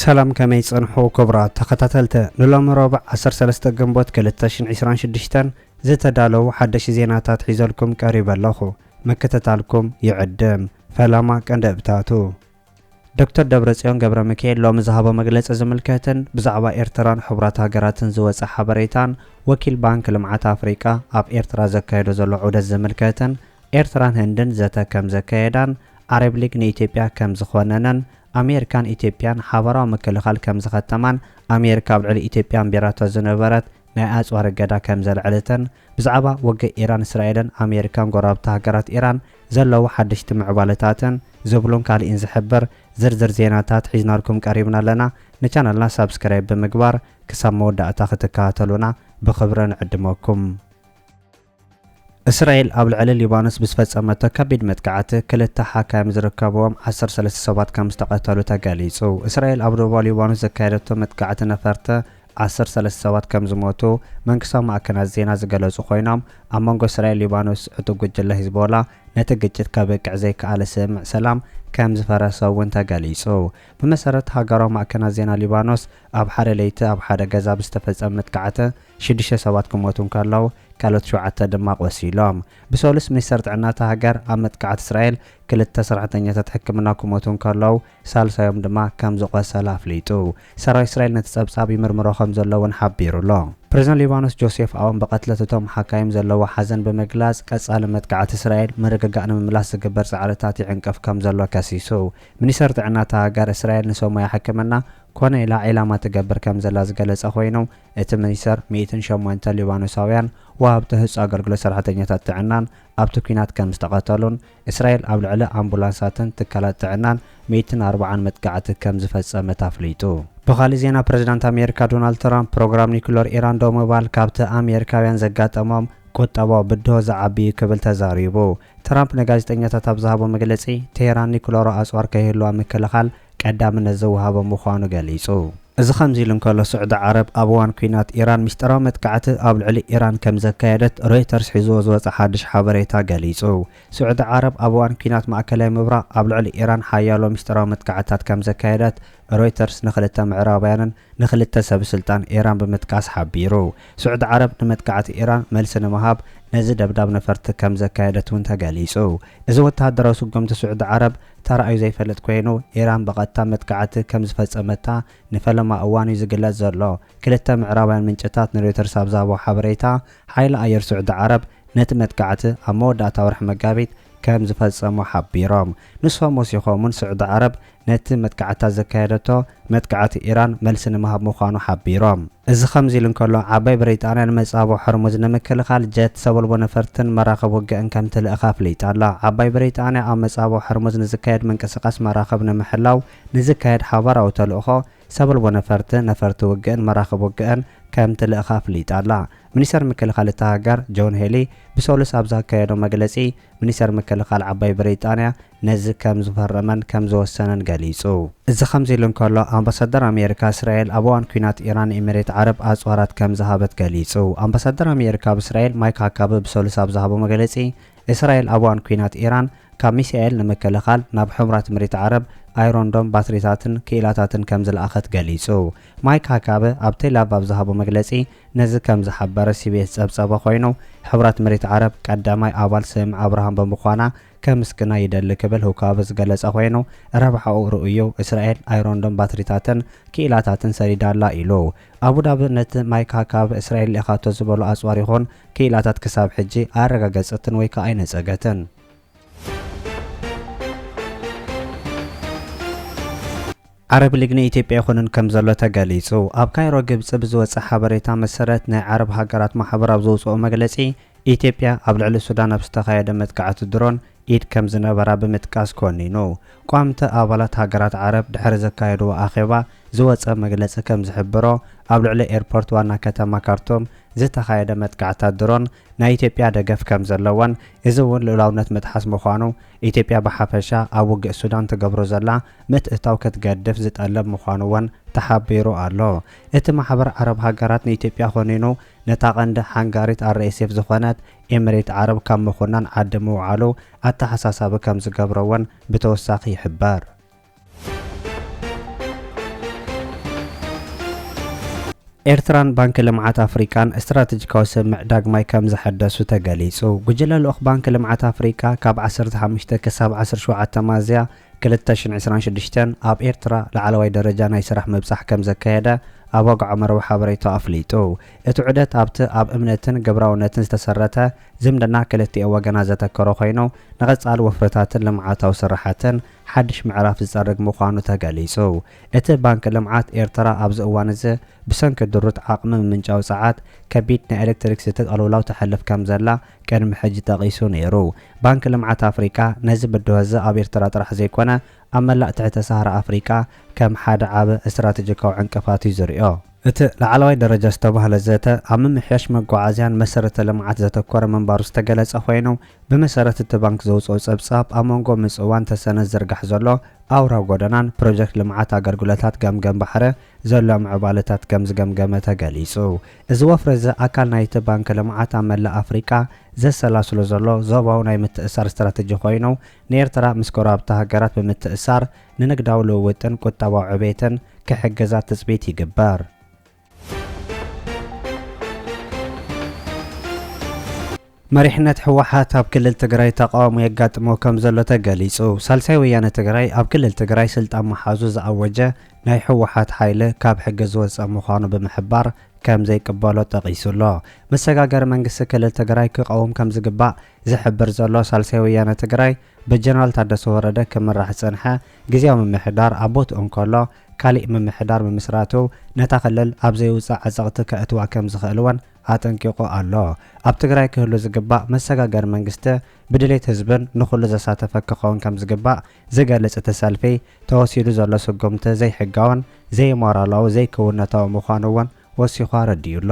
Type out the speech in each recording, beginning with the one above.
ሰላም ከመይ ጸንሑ ክብራት ተኸታተልቲ ንሎሚ ሮብዕ 13 ግንቦት 2026 ዝተዳለዉ ሓደሽ ዜናታት ሒዘልኩም ቀሪበ ኣለኹ ምክትታልኩም ይዕድም ፈለማ ቀንዲ እብታቱ ዶክተር ደብረጽዮን ገብረሚካኤል ሎሚ ዝሃቦ መግለጺ ዝምልከትን ብዛዕባ ኤርትራን ሕቡራት ሃገራትን ዝወጸ ሓበሬታን ወኪል ባንክ ልምዓት ኣፍሪቃ ኣብ ኤርትራ ዘካይዶ ዘሎ ዑደት ዝምልከትን ኤርትራን ህንድን ዘተ ከም ዘካየዳን ዓረብ ሊግ ንኢትዮጵያ ከም ዝኾነነን ኣሜሪካን ኢትዮጵያን ሓባራዊ ምክልኻል ከም ዝኸተማን ኣሜሪካ ኣብ ልዕሊ ኢትዮጵያ ኣንቢራቶ ዝነበረት ናይ ኣጽዋር እገዳ ከም ዘልዐለተን ብዛዕባ ወግእ ኢራን እስራኤልን ኣሜሪካን ጎረባብቲ ሃገራት ኢራን ዘለዉ ሓደሽቲ ምዕባለታትን ዝብሉን ካልእን ዝሕብር ዝርዝር ዜናታት ሒዝናልኩም ቀሪብና ኣለና ንቻነልና ሳብስክራይብ ብምግባር ክሳብ መወዳእታ ክትከታተሉና ብኽብሪ ንዕድመኩም። እስራኤል ኣብ ልዕሊ ሊባኖስ ብዝፈጸመቶ ከቢድ መጥቃዕቲ ክልተ ሓካይም ዝርከብዎም ዓሰርተ ሰለስተ ሰባት ከምዝተቐተሉ ተገሊጹ። እስራኤል ኣብ ደቡባዊ ሊባኖስ ዘካየደቶ መጥቃዕቲ ነፈርቲ ዓሰርተ ሰለስተ ሰባት ከምዝሞቱ መንግስታዊ ማዕከናት ዜና ዝገለጹ ኮይኖም፣ ኣብ መንጎ እስራኤልን ሊባኖስ ዕጡቕ ጉጅለ ሂዝቦላ ነቲ ግጭት ከብቅዕ ዘይከኣለ ስምምዕ ሰላም ከምዝፈረሰ'ውን ተገሊጹ። ብመሰረት ሃገራዊ ማዕከናት ዜና ሊባኖስ፣ ኣብ ሓደ ለይቲ ኣብ ሓደ ገዛ ብዝተፈጸመ መጥቃዕቲ፣ ሽዱሽተ ሰባት ክሞቱ እንከለዉ ካልኦት ሸውዓተ ድማ ቆሲሎም። ብሰሉስ ሚኒስተር ጥዕና እታ ሃገር ኣብ መጥቃዕቲ እስራኤል ክልተ ሰራሕተኛታት ሕክምና ክሞቱ እንከለዉ ሳልሳዮም ድማ ከም ዝቖሰለ ኣፍሊጡ። ሰራዊት እስራኤል ነቲ ጸብጻብ ይምርምሮ ከም ዘሎ እውን ሓቢሩ ኣሎ። ፕረዚደንት ሊባኖስ ጆሴፍ ኣውን ብቐትለት እቶም ሓካይም ዘለዎ ሓዘን ብምግላጽ ቀጻሊ መጥቃዕቲ እስራኤል ምርግጋእ ንምምላስ ዝግበር ጻዕርታት ይዕንቅፍ ከም ዘሎ ከሲሱ። ሚኒስተር ጥዕና እታ ሃገር እስራኤል ንሰብ ሞያ ሕክምና ኮነ ኢላ ዒላማ ትገብር ከም ዘላ ዝገለጸ ኮይኑ እቲ ሚኒስተር፣ ሚእትን ሸሞንተ ሊባኖሳውያን ወሃብቲ ህጹጽ ኣገልግሎት ሰራሕተኛታት ጥዕናን ኣብቲ ኲናት ከም ዝተቐተሉን፣ እስራኤል ኣብ ልዕሊ ኣምቡላንሳትን ትካላት ጥዕናን ሚእትን ኣርብዓን መጥቃዕቲ ከም ዝፈጸመት ኣፍሊጡ። ብኻልእ ዜና ፕረዚዳንት ኣሜሪካ ዶናልድ ትራምፕ፣ ፕሮግራም ኒኩለር ኢራን ደው ምባል ካብቲ ኣሜሪካውያን ዘጋጠሞም ቁጠባዊ ብድሆ ዝዓቢ'ዩ ክብል ተዛሪቡ። ትራምፕ ንጋዜጠኛታት ኣብ ዝሃቦ መግለጺ፣ ቴህራን ኒኩለራዊ ኣጽዋር ከይህልዋ ምክልኻል ቀዳምነት ዝወሃቦ ምዃኑ ገሊጹ። እዚ ከምዚ ኢሉ እንከሎ፣ ስዑዲ ዓረብ ኣብ እዋን ኲናት ኢራን ምስጢራዊ መጥቃዕቲ ኣብ ልዕሊ ኢራን ከም ዘካየደት ሮይተርስ ሒዝዎ ዝወጸ ሓድሽ ሓበሬታ ገሊጹ። ስዑዲ ዓረብ ኣብ እዋን ኲናት ማእከላይ ምብራቕ ኣብ ልዕሊ ኢራን ሓያሎ ምስጢራዊ መጥቃዕትታት ከም ዘካየደት ሮይተርስ ንኽልተ ምዕራባውያንን ንኽልተ ሰብስልጣን ኢራን ብምጥቃስ ሓቢሩ። ስዑዲ ዓረብ ንመጥቃዕቲ ኢራን መልሲ ንምሃብ ነዚ ደብዳብ ነፈርቲ ከም ዘካየደት'ውን ተገሊጹ። እዚ ወተሃደራዊ ስጉምቲ ስዑዲ ዓረብ፣ ተራእዩ ዘይፈልጥ ኮይኑ ኢራን ብቐጥታ መጥቃዕቲ ከም ዝፈጸመታ ንፈለማ እዋን'ዩ ዝግለጽ ዘሎ። ክልተ ምዕራባውያን ምንጭታት ንሮይተርስ ኣብ ዝሃብዎ ሓበሬታ፣ ሓይሊ ኣየር ስዑዲ ዓረብ ነቲ መጥቃዕቲ ኣብ መወዳእታ ወርሒ መጋቢት ከም ዝፈጸሞ ሓቢሮም። ንሶም ወሲኾም'ውን ስዑዲ ዓረብ ነቲ መጥቃዕትታት ዘካየደቶ፣ መጥቃዕቲ ኢራን መልሲ ንምሃብ ምዃኑ ሓቢሮም። እዚ ከምዚ ኢሉ እንከሎ፣ ዓባይ ብሪጣንያ ንመጻብቦ ሆርሙዝ ንምክልኻል ጀት ሰበልቦ ነፈርትን መራኽብ ውግእን ከምትልእኽ ኣፍሊጣ ኣላ። ዓባይ ብሪጣንያ ኣብ መጻብቦ ሆርሙዝ ንዝካየድ ምንቅስቓስ መራኽብ ንምሕላው ንዝካየድ ሓባራዊ ተልእኾ ሰበልቦ ነፈርቲ፣ ነፈርቲ ውግእን መራኽብ ውግእን ከምትልእኽ ኣፍሊጣ ኣላ። ሚኒስተር ምክልኻል እታ ሃገር ጆን ሄሊ ብሰሉስ ኣብ ዘካየዶ መግለጺ፣ ሚኒስተር ምክልኻል ዓባይ ብሪጣንያ፣ ነዚ ከም ዝፈረመን ከም ዝወሰነን ገሊጹ። እዚ ከምዚ ኢሉ እንከሎ፣ ኣምባሳደር ኣሜሪካ እስራኤል ኣብ እዋን ኲናት ኢራን ንኢሚሬት ዓረብ ኣጽዋራት ከም ዝሃበት ገሊጹ። ኣምባሳደር ኣሜሪካ ኣብ እስራኤል ማይክ ሃካቢ ብሰሉስ ኣብ ዝሃቦ መግለጺ፣ እስራኤል ኣብ እዋን ኲናት ኢራን ካብ ሚሳኤል ንምክልኻል ናብ ሕቡራት እሚሬት ዓረብ ኣይሮን ዶም ባትሪታትን ክኢላታትን ከም ዝለኣኸት ገሊጹ። ማይክ ሃካቢ ኣብ ቴልኣቭ ኣብ ዝሃቦ መግለጺ ነዚ ከም ዝሓበረ ሲቢኤስ ዝጸብጸቦ ኮይኑ፣ ሕቡራት እሚሬት ዓረብ ቀዳማይ ኣባል ስምምዕ ኣብርሃም ብምዃና ከምስግና ይደሊ ክብል ሁካብ ዝገለጸ ኮይኑ፣ ረብሓኡ ርኡይ'ዩ፣ እስራኤል ኣይሮንዶም ባትሪታትን ክኢላታትን ሰዲዳ ኣላ ኢሉ። ኣቡዳቢ ነቲ ማይክ ሃካብ እስራኤል ልኢኻቶ ዝበሎ ኣጽዋር ይኹን ክኢላታት ክሳብ ሕጂ ኣያረጋገጸትን ወይ ከኣ ኣይነጸገትን። ዓረብ ሊግ ንኢትዮጵያ ይኹንን ከምዘሎ ተገሊጹ። ኣብ ካይሮ ግብጺ ብዝወጸ ሓበሬታ መሰረት ናይ ዓረብ ሃገራት ማሕበር ኣብ ዘውጸኦ መግለጺ ኢትዮጵያ ኣብ ልዕሊ ሱዳን ኣብ ዝተኻየደ መጥቃዕቲ ድሮን ኢድ ከምዝነበራ ብምጥቃስ ኮኒኑ። ቋምተ ኣባላት ሃገራት ዓረብ ድሕሪ ዘካየድዎ ኣኼባ ዝወጸ መግለጺ ከምዝሕብሮ ኣብ ልዕሊ ኤርፖርት ዋና ከተማ ካርቱም ዝተኻየደ መጥቃዕታት ድሮን ናይ ኢትዮጵያ ደገፍ ከምዘለዎን እዚ እውን ልኡላውነት ምጥሓስ ምዃኑ ኢትዮጵያ ብሓፈሻ ኣብ ውግእ ሱዳን ትገብሮ ዘላ ምትእትታው ክትገድፍ ዝጠልብ ምዃኑ'ውን ተሓቢሩ ኣሎ። እቲ ማሕበር ዓረብ ሃገራት ንኢትዮጵያ ኮኒኑ ነታ ቀንዲ ሓንጋሪት RSF ዝኾነት ኤምሬት ዓረብ ካብ ምኹናን ዓዲ ምውዓሉ ኣተሓሳሳቢ ከምዝገብሮ'ውን ብተወሳኺ ይሕበር። ኤርትራን ባንኪ ልምዓት ኣፍሪቃን ስትራተጂካዊ ስምምዕ ዳግማይ ከምዝሐደሱ ተገሊጹ። ጉጅለ ልኡኽ ባንኪ ልምዓት ኣፍሪቃ ካብ ዓሰርተ ሓሙሽተ ክሳብ ዓሰርተ ሸውዓተ ሚያዝያ ክልተ ሽሕን ዕስራን ሽዱሽተን ኣብ ኤርትራ ላዕለዋይ ደረጃ ናይ ስራሕ ምብጻሕ ከምዘካየደ ኣብ ወግዓዊ መርበብ ሓበሬታኡ ኣፍሊጡ። እቲ ዑደት ኣብቲ ኣብ እምነትን ግብራውነትን ዝተሰረተ ዝምድና ክልቲኦ ወገናት ዘተኮረ ኮይኑ ንቐጻሊ ወፍርታትን ልምዓታዊ ስርሓትን ሓድሽ ምዕራፍ ዝፀርግ ምዃኑ ተገሊፁ። እቲ ባንኪ ልምዓት ኤርትራ ኣብዚ እዋን እዚ ብሰንኪ ድሩት ዓቕሚ ምምንጫው ፀዓት ከቢድ ናይ ኤሌክትሪክ ዝቲ ቅልውላው ተሕልፍ ከምዘላ ቅድሚ ሕጂ ጠቒሱ ነይሩ። ባንኪ ልምዓት ኣፍሪቃ ነዚ ብድሆ እዚ ኣብ ኤርትራ ጥራሕ ዘይኮነ ኣብ መላእ ትሕተ ሳህራ ኣፍሪቃ ከም ሓደ ዓቢ ስትራቴጂካዊ ዕንቅፋት እዩ ዝሪኦ። እቲ ላዕለዋይ ደረጃ ዝተባህለ ዘተ ኣብ ምምሕያሽ መጓዓዝያን መሰረተ ልምዓት ዘተኮረ ምንባሩ ዝተገለፀ ኮይኑ፣ ብመሰረት እቲ ባንክ ዘውጽኦ ጸብጻብ፣ ኣብ መንጎ ምጽዋን ተሰነን ዝዝርጋሕ ዘሎ ኣውራ ጎደናን ፕሮጀክት ልምዓት ኣገልግሎታት ገምገም ባሕረ ዘሎ ምዕባለታት ከም ዝገምገመ ተገሊጹ። እዚ ወፍሪ እዚ ኣካል ናይቲ ባንኪ ልምዓት ኣብ መላእ ኣፍሪቃ ዘሰላስሎ ዘሎ ዞባዊ ናይ ምትእስሳር ስትራተጂ ኮይኑ፣ ንኤርትራ ምስ ጎረባብቲ ሃገራት ብምትእስሳር ንንግዳዊ ልውውጥን ቁጠባዊ ዕቤትን ክሕግዛ ትጽቢት ይግበር። መሪሕነት ህወሓት ኣብ ክልል ትግራይ ተቓውሞ የጋጥሞ ከምዘሎ ተገሊፁ። ሳልሳይ ወያነ ትግራይ ኣብ ክልል ትግራይ ስልጣን ምሓዙ ዝኣወጀ ናይ ህወሓት ሓይሊ ካብ ሕጊ ዝወፀ ምዃኑ ብምሕባር ከምዘይቅበሎ ጠቒሱ ኣሎ። መሰጋገሪ መንግስቲ ክልል ትግራይ ክቐውም ከምዝግባእ ዝሕብር ዘሎ ሳልሳይ ወያነ ትግራይ ብጀነራል ታደሰ ወረደ ክምራሕ ዝፀንሐ ግዝያዊ ምምሕዳር ኣብ ቦትኡ እንከሎ ካሊእ ምምሕዳር ምምስራቱ ነታ ክልል ኣብ ዘይውፃእ ዕፅቕቲ ከእትዋ ከምዝኽእል እውን ኣጠንቂቑ ኣሎ። ኣብ ትግራይ ክህሉ ዝግባእ መሰጋገሪ መንግስቲ ብድሌት ህዝብን ንኹሉ ዘሳተፈ ክኸውን ከምዝግባእ ዝገልፅ እቲ ሰልፊ ተወሲዱ ዘሎ ስጉምቲ ዘይሕጋውን፣ ዘይሞራላዊ፣ ዘይክውንነታዊ ምዃኑ እውን ወሲኹ ኣረዲኡ ኣሎ።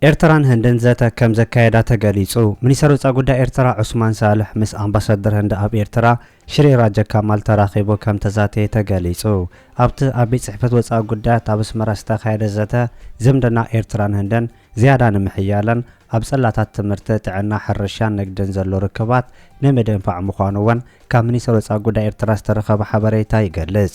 ኤርትራን ህንድን ዘተ ከም ዘካየዳ ተገሊጹ። ሚኒስተር ወጻኢ ጉዳይ ኤርትራ ዑስማን ሳልሕ ምስ ኣምባሳደር ህንዲ ኣብ ኤርትራ ሽሪ ራጀ ካማል ተራኺቡ ከም ተዛተየ ተገሊጹ። ኣብቲ ኣብ ቤት ጽሕፈት ወጻኢ ጉዳያት ኣብ ኣስመራ ዝተኻየደ ዘተ፣ ዝምድና ኤርትራን ህንድን ዝያዳ ንምሕያልን ኣብ ጽላታት ትምህርቲ፣ ጥዕና፣ ሕርሻን ንግድን ዘሎ ርክባት ንምድንፋዕ ምዃኑ'ውን ካብ ሚኒስተር ወጻኢ ጉዳይ ኤርትራ ዝተረኸበ ሓበሬታ ይገልጽ።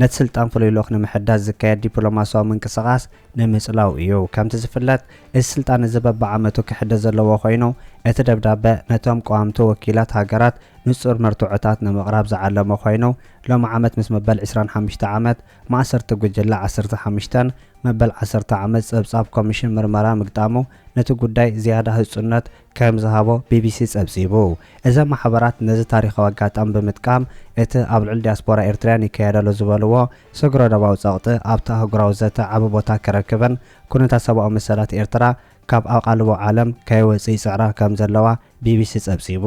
ነቲ ስልጣን ፍሉይ ልኡኽ ንምሕዳስ ዝካየድ ዲፕሎማስያዊ ምንቅስቓስ ንምጽላው እዩ። ከምቲ ዝፍለጥ፣ እዚ ስልጣን እዚ በብዓመቱ ክሕደስ ዘለዎ ኮይኑ፣ እቲ ደብዳበ ነቶም ቀዋምቲ ወኪላት ሃገራት ንጹር መርትዖታት ንምቕራብ ዝዓለመ ኮይኑ፣ ሎሚ ዓመት ምስ መበል ዕስራን ሓሙሽተ ዓመት ማእሰርቲ ጉጅለ ዓሰርተ ሓሙሽተን መበል ዓሰርተ ዓመት ጸብጻብ ኮሚሽን ምርመራ ምግጣሙ ነቲ ጉዳይ ዝያዳ ህጹነት ከም ዝሃቦ ቢቢሲ ጸብጺቡ። እዘን ማሕበራት ነዚ ታሪኻዊ ኣጋጣሚ ብምጥቃም፣ እቲ ኣብ ልዕሊ ዲያስፖራ ኤርትርያን ይካየደ'ሎ ዝበልዎ ስግረ-ዶባዊ ጸቕጢ ኣብቲ ኣህጉራዊ ዘተ ዓቢ ቦታ ክረክብን ኩነታት ሰብኣዊ መሰላት ኤርትራ ካብ ኣቓልቦ ዓለም ከይወጽእ ይጽዕራ ከም ዘለዋ ቢቢሲ ጸብጺቡ።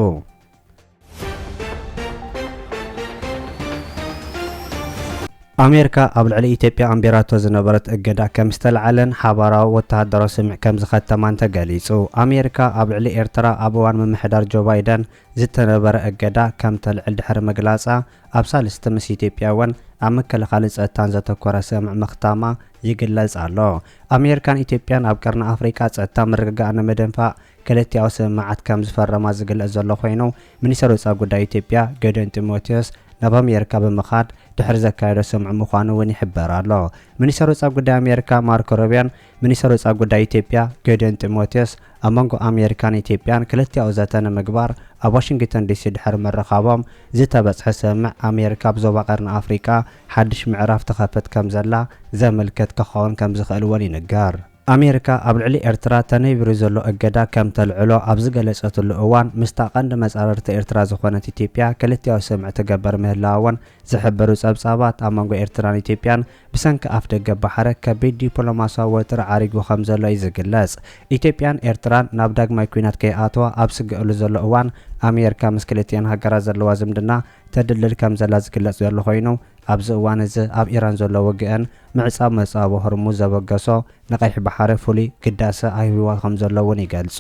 ኣሜሪካ ኣብ ልዕሊ ኢትዮጵያ ኣንቢራቶ ዝነበረት እገዳ ከም ዝተለዓለን ሓባራዊ ወተሃደራዊ ስምዕ ከም ዝኸተማን ተገሊጹ። ኣሜሪካ ኣብ ልዕሊ ኤርትራ ኣብ እዋን ምምሕዳር ጆ ባይደን ዝተነበረ እገዳ ከም ተልዕል ድሕሪ ምግላጻ ኣብ ሳልስቲ ምስ ኢትዮጵያ እውን ኣብ ምክልኻልን ጸጥታን ዘተኮረ ስምዕ ምኽታማ ይግለጽ ኣሎ። ኣሜሪካን ኢትዮጵያን ኣብ ቀርኒ ኣፍሪቃ ጸጥታ ምርግጋእ ንምድንፋዕ ክልቲኣዊ ስምምዓት ከም ዝፈረማ ዝግለጽ ዘሎ ኮይኑ፣ ሚኒስተር ወጻኢ ጉዳይ ኢትዮጵያ ጌዲዮን ጢሞቴዎስ ናብ ኣሜሪካ ብምኻድ ድሕሪ ዘካየዶ ስምዑ ምዃኑ እውን ይሕበር ኣሎ። ሚኒስተር ወጻኢ ጉዳይ ኣሜሪካ ማርኮ ሩቢዮን ሚኒስተር ወጻኢ ጉዳይ ኢትዮጵያ ጌዲዮን ጢሞቴዎስ ኣብ መንጎ ኣሜሪካን ኢትዮጵያን ክልቲኣዊ ዘተ ንምግባር ኣብ ዋሽንግተን ዲሲ ድሕሪ ምርኻቦም ዝተበጽሐ ስምምዕ ኣሜሪካ ኣብ ዞባ ቀርኒ ኣፍሪቃ ሓድሽ ምዕራፍ ትኸፍት ከም ዘላ ዘመልክት ክኸውን ከም ዝኽእል እውን ይንገር። ኣሜሪካ ኣብ ልዕሊ ኤርትራ ተነቢሩ ዘሎ እገዳ ከም ተልዕሎ ኣብ ዝገለጸትሉ እዋን ምስታ ቀንዲ መጻርርቲ ኤርትራ ዝኾነት ኢትዮጵያ ክልቲኣዊ ስምምዕ ትገበር ምህላዋ'ውን ዝሕብሩ ጸብጻባት ኣብ መንጎ ኤርትራን ኢትዮጵያን ብሰንኪ ኣፍደገ ባሕረ ከቢድ ዲፕሎማስያዊ ወጥሪ ዓሪጉ ከምዘሎ'ዩ ዝግለጽ። ኢትዮጵያን ኤርትራን ናብ ዳግማይ ኲናት ከይኣተዋ ኣብ ዝስገእሉ ዘሎ እዋን ኣሜሪካ ምስ ክልቲኣን ሃገራት ዘለዋ ዝምድና ተድልል ከም ዘላ ዝግለጽ ዘሎ ኮይኑ፣ ኣብዚ እዋን እዚ ኣብ ኢራን ዘሎ ውግእን ምዕጻው መጻብቦ ሆርሙዝ ዘበገሶ ንቀይሕ ባሕሪ ፍሉይ ግዳሰ ኣይህብዎ ከም ዘሎ እውን ይገልጹ።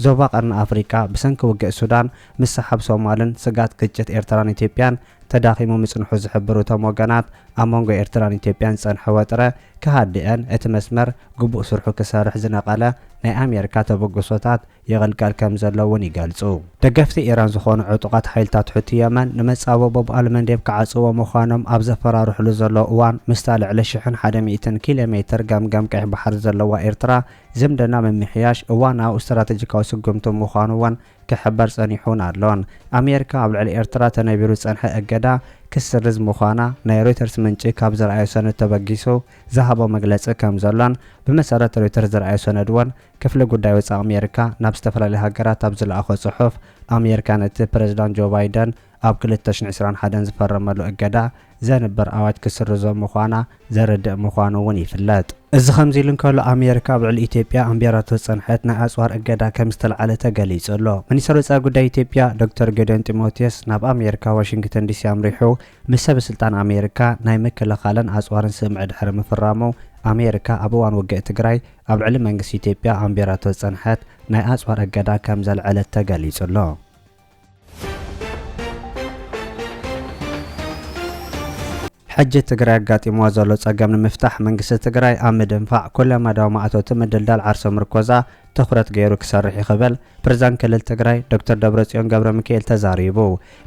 ዞባ ቀርኒ ኣፍሪቃ ብሰንኪ ውግእ ሱዳን፣ ምስሓብ ሶማልን ስግኣት ግጭት ኤርትራን ኢትዮጵያን ተዳኺሙ ምጽንሑ ዝሕብሩ እቶም ወገናት፣ ኣብ መንጎ ኤርትራን ኢትዮጵያን ዝጸንሐ ወጥረ ክሃድእን እቲ መስመር ግቡእ ስርሑ ክሰርሕ ዝነቀለ ናይ ኣሜሪካ ተበግሶታት ይቕልቀል ከም ዘሎ እውን ይገልጹ። ደገፍቲ ኢራን ዝዀኑ ዕጡቓት ሓይልታት ሑቲ የመን፣ ንመጻብቦ ባብ ኣልመንዴብ ክዓጽዉዎ ምዃኖም ኣብ ዘፈራርሑሉ ዘለዉ እዋን፣ ምስታ ልዕሊ ሽሕን ሓደ ሚእትን ኪሎ ሜትር ገምገም ቀይሕ ባሕሪ ዘለዋ ኤርትራ ዝምድና ምምሕያሽ እዋናዊ ስትራተጂካዊ ስጕምቲ ምዃኑ እውን ክሕበር ጸኒሑን ኣሎን። ኣሜሪካ ኣብ ልዕሊ ኤርትራ ተነቢሩ ዝጸንሐ እገዳ ክትስርዝ ምዃና ናይ ሮይተርስ ምንጪ ካብ ዘርኣዮ ሰነድ ተበጊሱ ዝሃቦ መግለጺ ከም ዘሎን ብመሰረት ሮይተርስ ዝርኣዮ ሰነድ እውን ክፍሊ ጉዳይ ወጻኢ ኣሜሪካ ናብ ዝተፈላለያ ሃገራት ኣብ ዝለኣኾ ጽሑፍ፣ ኣሜሪካ ነቲ ፕረዚዳንት ጆ ባይደን ኣብ ክልተ ሽሕን ዕስራን ሓደን ዝፈረመሉ እገዳ ዘንብር ኣዋጅ ክትስርዞ ምዃና ዘረድእ ምዃኑ'ውን ይፍለጥ። እዚ ከምዚ ኢሉ እንከሎ፣ ኣሜሪካ ኣብ ልዕሊ ኢትዮጵያ ኣንቢራቶ ዝጸንሐት ናይ ኣጽዋር እገዳ ከም ዝተልዓለ ተገሊጹ ኣሎ። ሚኒስተር ወጻኢ ጉዳይ ኢትዮጵያ ዶክተር ጌዲዮን ጢሞቴዎስ ናብ ኣሜሪካ ዋሽንግተን ዲሲ ኣምሪሑ ምስ ሰበስልጣን ኣሜሪካ ናይ ምክልኻልን ኣጽዋርን ስምምዕ ድሕሪ ምፍራሙ፣ ኣሜሪካ ኣብ እዋን ውግእ ትግራይ ኣብ ልዕሊ መንግስቲ ኢትዮጵያ ኣንቢራቶ ዝጸንሐት ናይ ኣጽዋር እገዳ ከም ዘልዐለት ተገሊጹ ኣሎ። ሕጂ ትግራይ ኣጋጢምዋ ዘሎ ጸገም ንምፍታሕ መንግስቲ ትግራይ ኣብ ምድንፋዕ ኩለመዳያዊ ማእቶቲ ምድልዳል ዓርሰ ምርኮዛ ትኹረት ገይሩ ክሰርሕ'ዩ ክብል ፕሬዝዳንት ክልል ትግራይ ዶክተር ደብረጽዮን ገብረሚካኤል ተዛሪቡ።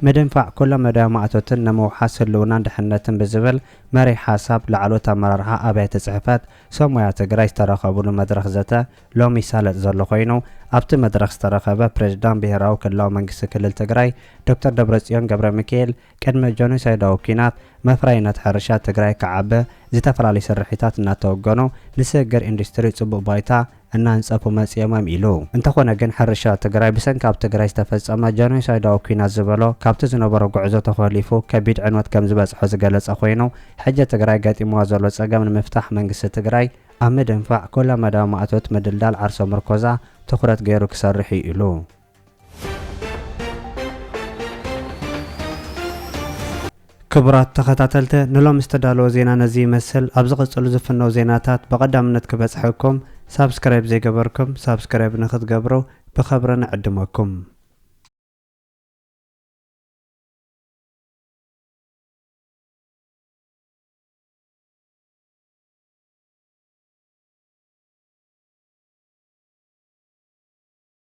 ምድንፋዕ ኩለመዳያዊ ማእቶትን ንምውሓስ ህልውናን ድሕንነትን ብዝብል መሪሕ ሓሳብ ላዕለዎት ኣመራርሓ ኣብያተ ጽሕፈት ሰብ ሞያ ትግራይ ዝተረኸብሉ መድረኽ ዘተ ሎሚ ይሳለጥ ዘሎ ኮይኑ፣ ኣብቲ መድረኽ ዝተረኸበ ፕሬዝዳንት ብሄራዊ ክልላዊ መንግስቲ ክልል ትግራይ ዶክተር ደብረፅዮን ገብረሚካኤል ቅድሚ ጆኖሳይዳዊ ኲናት መፍረይነት ሕርሻ ትግራይ ክዓቢ ዝተፈላለዩ ስርሒታት እናተወገኑ ንስግግር ኢንዱስትሪ ፅቡቕ ባይታ እናንጸፉ መጺኦምም ኢሉ። እንተኾነ ግን ሕርሻ ትግራይ ብሰንኪ ኣብ ትግራይ ዝተፈጸመ ጀኖይሳይዳዊ ኲናት ዝበሎ ካብቲ ዝነበሮ ጉዕዞ ተኾሊፉ ከቢድ ዕንወት ከምዝበጽሖ ዝገለጸ ኮይኑ ሕጂ ትግራይ ገጢምዋ ዘሎ ጸገም ንምፍታሕ መንግስቲ ትግራይ ኣብ ምድንፋዕ ኩለመዳያዊ ማእቶት ምድልዳል ዓርሰ ምርኮዛ ትኹረት ገይሩ ክሰርሕ'ዩ ኢሉ። ክቡራት ተኸታተልተ ንሎሚ ዝተዳለወ ዜና ነዚ ይመስል ኣብ ዝቕጽሉ ዝፍነው ዜናታት ብቐዳምነት ክበጽሐኩም ሳብስክራይብ ዘይገበርኩም ሳብስክራይብ ንክትገብሩ ብኸብሪ ንዕድመኩም